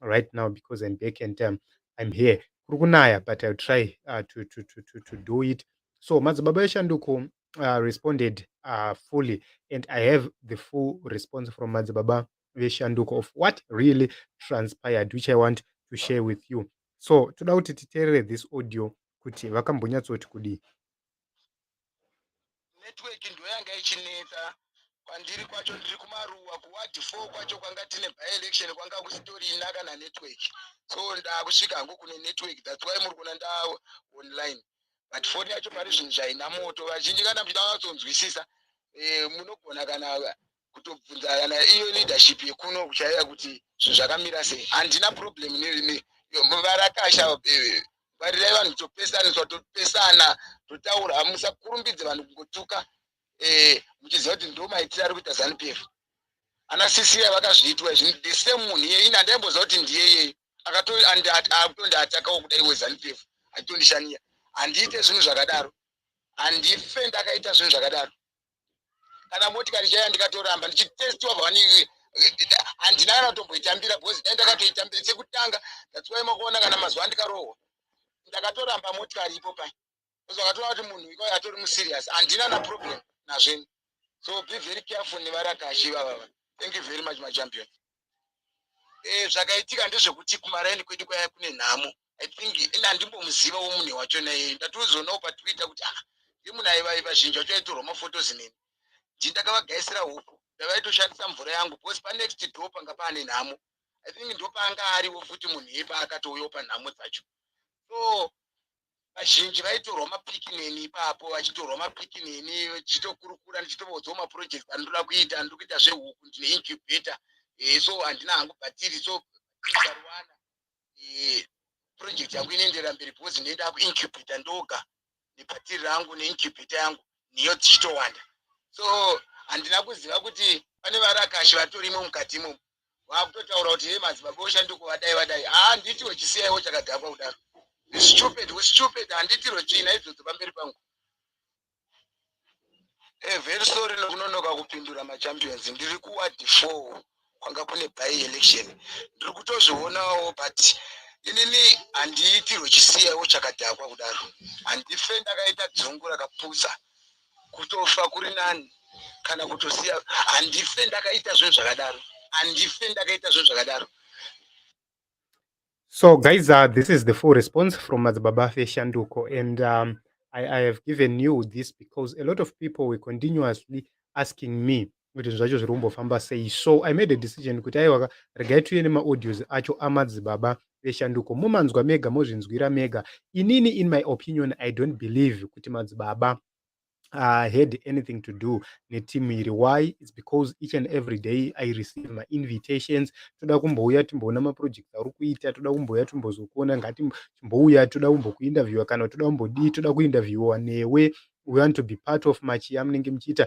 right now because I'm back and um, I'm here. Kurukunaya, but I'll try uh, to, to, to, to, to do it. So Madzibaba Eshanduko uh, responded uh, fully and I have the full response from Madzibaba Eshanduko of what really transpired, which I want to share with you. So toda kuti titerere this audio kuti vakambonyatsoti kudii. network ndoyanga ichinetsa kwandiri kwacho ndiri kumaruwa kuwadi four kwacho kwanga tine byelection kwanga kusitorina kana network so ndaakusvika hangu kune network thats why muri kuona nda online but foni yacho pari zvinhu zvaina moto vazhinji kana muchida vatsonzwisisa eh, munogona kana kutobvunza kana iyo leadership yekuno kuchaiya kuti zvinhu zvakamira sei handina problem nevarakasha eh, varirai vanhu topesaniswa topesana totaura musakurumbidze vanhu kungotuka eh, muchiziva kuti ndo maitiro ari kuita zanu p f ana sisiya vakazviitwa izvi the same munhu iye ini handaimboziva kuti ndiyeyei akutondiatakawo kudai wezanu p f achitondishaniya handiite zvinhu zvakadaro handife ndakaita zvinhu zvakadaro kana motikari chaiya ndikatoramba ndichitestiwa vani handina kana kutomboitambira because dai ndakatoitambira chekutanga ndatsiwai makuona kana mazuva andikarohwa ndakatoramba motikari ipo pai bcause vakatoona kuti munhu iko atori muserious handina na problem nazveni so be very careful nevarakashi ivavava thank you very much machampion eh, zvakaitika ndezvekuti kumaraini kwedu kwaya kune nhamo i think ende handimbomuziva wo munhu wacho naye ndatozonawo patwitter kuti ah ndi munhu aivai vazhinji vacho aitorwa mafotos neni ndi ndakavagaisira huku ndavaitoshandisa mvura yangu because panext door panga paane nhamo i think ndopaanga ariwo futi munhu iye paakatouyawo panhamo dzacho so vazhinji vaitorwa mapiki neni ipapo vachitorwa mapiki neni vachitokurukura ndichitovaudzawo maprojects andinoda kuita ndiri kuita zvehuku ndine incubator eh, so handina hangu bhatiri so ikarwana eh, project yangu inoenderera mberi because ndine ndakuincubata ndoga nepatiri rangu neincubata yangu niyo dzichitowanda so handina kuziva kuti pane varakashi vatorimo mukati imomo vakutotaura kuti hei madzibaba oshandiko vadai vadai handitiwo chisiyaiwo chakadhakwa kudaro stupid stupid handitirwo china idzodzo pamberi pangu eh, very sorry nokunonoka kupindura machampions ndiri kuward four kwanga kune by election ndiri kutozvionawo but inini handiitirwe chisiyaiwo chakadhakwa kudaro handife ndakaita dzungu rakapusa kutofa kuri nani kana kutosiya handife ndakaita zvinhu zvakadaro handife ndakaita zvinhu zvakadaro so guys uh, this is the full response from madzibaba feshanduko and um, I, I have given you this because a lot of people were continuously asking me kuti zvacho zviri kumbofamba sei so i made a decision kuti aiwaka regai tiuye nemaaudios acho amadzibaba veshanduko momanzwa mega mozvinzwira mega inini in my opinion i don't believe kuti madzibaba uh, had anything to do netimu iri why its because each and every day i receive mainvitations toda kumbouya timboona maprojects auri kuita toda kumbouya timbozokuona ngati timbouya toda kumbokuinterviewa kana toda kumbodii toda kuinterviewa newe we want to be part of machiya munenge muchiita